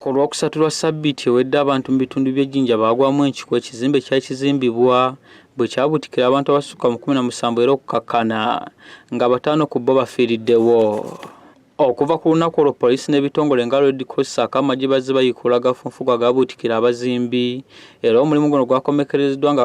Ku lwokusatu lwa ssabbiiti ewedde abantu mu bitundu by'e Jinja baagwamu enkiku ekizimbe kyali kizimbibwa bwe kyabuutikira abantu abasukka mu kumi na musanvu era okukakkana nga bataano ku bo bafiiriddewo. Okuva ku lunaku olwo poliisi n'ebitongole nga Red Cross ssaako amagye bazze bayiikuula agafunfugu agabuutikira abazimbi era omulimu guno gwakomekkerezeddwa nga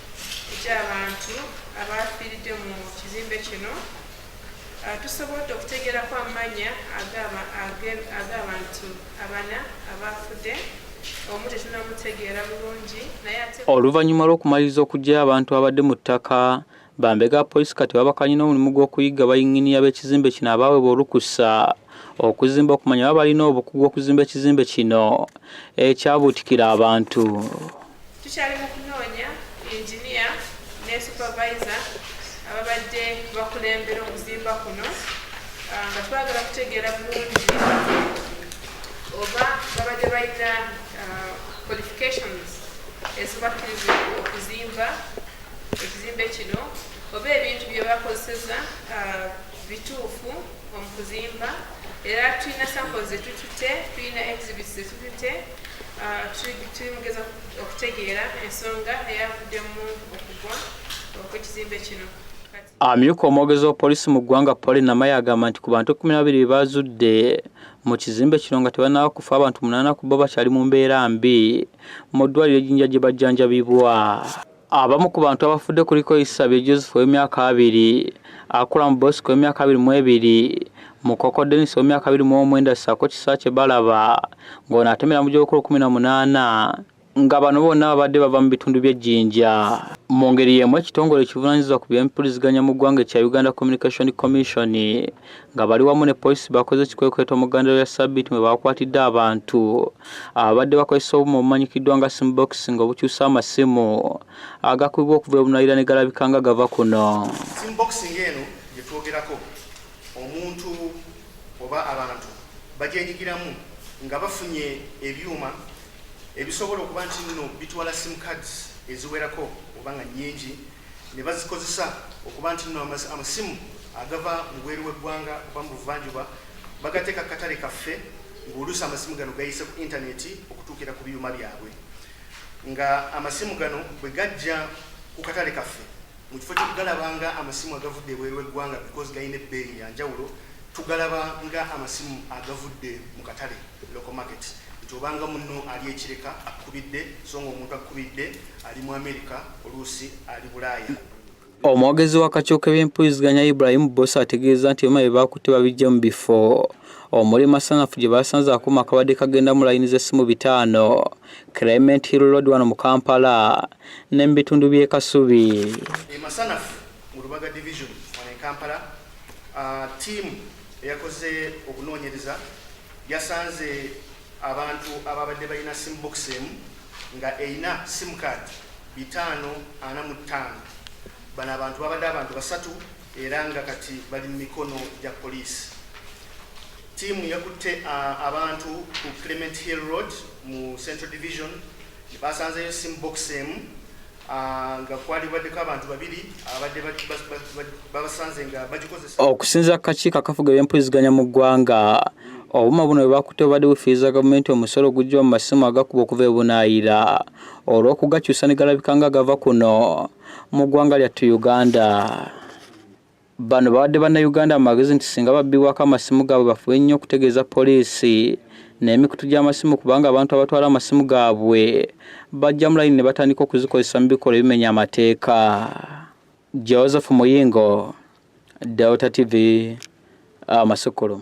gy'abantu abaafiiridde mu kizimbe kino ah, tusobodde okutegerako amanya ag'abantu abana abaafudde omu tetunamutegeera bulungi naye ate oluvannyuma lw'okumaliriza okuggyayo abantu abadde mu ttaka bambega poliisi kati babakanye n'omulimu gw'okuyigga bayinginiya b'ekizimbe kino abaawebwa olukusa okuzimba okumanya baba balina obukugu okuzimba ekizimbe kino ekyabuutikira abantu tukyali mu kunoonya inginiya ne supervisor ababadde bakulembera okuzimba kuno ah, nga twagala kutegeera bulungi oba babadde balina ah, qualifications ezibakkiriza okuzimba ekizimbe kino oba ebintu bye bakozeseza ah, bituufu omukuzimba era tulina samples zetutute tulina exhibits zetutute Ah, tuli mugeza okutegeera ensonga eyavuddemu okugwa okwekizimbe kino amyuka omwogezi wa poliisi mu ggwanga poli namaye agamba nti ku bantu kumi nababiri bebazudde mu kizimbe kino nga tebanaba kufa abantu munaana ku bo bakyali mu mbeera mbi mu ddwaliro ejinja gye bajjanjabibwa Abamu ku bantu abafudde kuliko Isabye Joseph ow'emyaka abiri, Akulamu Bosco ow'emyaka abiri mu ebiri, Mukoko Dennis ow'emyaka abiri mu omwenda ssaako Kisaakye Balaba ng'ono atemera mu gy'obukulu kkumi na munaana nga bano bonna babadde bava mu bitundu by'e Jinja. Mu ngeri y'emu ekitongole ekivunanyizibwa ku by'empuliziganya mu ggwanga ekya Uganda Communication Commission nga bali wamu ne poliisi bakoze ekikwekweto mu ggandaalo lya ssabbiiti mwe baakwatidde abantu ababadde bakozesa obuuma obumanyikiddwa nga sim box nga obukyusa amasimu agakubibwa okuva ebunayira ne galabika nga gava kuno sim box ng'eno gye twogerako omuntu oba abantu bagyenyigiramu nga bafunye ebyuma ebisobola okuba nti nno bitwala sim cards eziwerako oba nga nnyingi ne bazikozesa okuba nti nno amasimu agava mu bweru w'eggwanga oba mu buvanjuba bagateeka katale kaffe ng'oluusi amasimu gano gayise ku intaneti okutuukira ku byuma byabwe nga amasimu gano bwe gajja ku katale kaffe mu kifo kyokugalaba nga amasimu agavudde ebweru w'eggwanga because galina ebbeeyi ya njawulo tugalaba nga amasimu agavudde mu katale local market nti obanga munno ali ekireka akubidde so nga omuntu akubidde ali mu amerika oluusi ali bulaaya Omwogezi wa kakiiko k'ebyempuliziganya Ibrahim Bbosa ategeezza nti byuma bye baakutte babiggye mu bifo omuli Masanafu gye baasanze akuuma akabadde kagenda mu layini z'essimu bitaano, Clement Hill Road wano mu Kampala ne mu bitundu by'e Kasubi. E Masanafu mu Lubaga Division wano e Kampala, ttiimu eyakoze okunoonyereza yasanze Abantu ababadde balina sim box emu nga erina sim card bitaano ana mu ttaano. Bano abantu babadde abantu basatu era nga kati bali mu mikono gya poliisi. Ttiimu yakutte abantu ku Clement Hill Road mu Central Division ne basanzeeyo sim box emu. okusinza ku kakiiko akafuga ebyempuliziganya mu ggwanga obuma buno bwe bakutte bubadde bufiiriza gavumenti omusolo oguggyibwa mu masimu agakuba okuva ebunaayira olw'okugakyusa ne galabika nga gava kuno mu ggwanga lyattu uganda Bano bawadde Bannayuganda amagezi nti singa babbibwako amasimu gaabwe bafube nnyo okutegeeza poliisi n'emikutu gy'amasimu kubanga abantu abatwala amasimu gaabwe bajja mu layini ne batandika okuzikozesa mu bikolwa ebimenya amateeka. Joseph Muyingo, Delta TV, Amasukulu.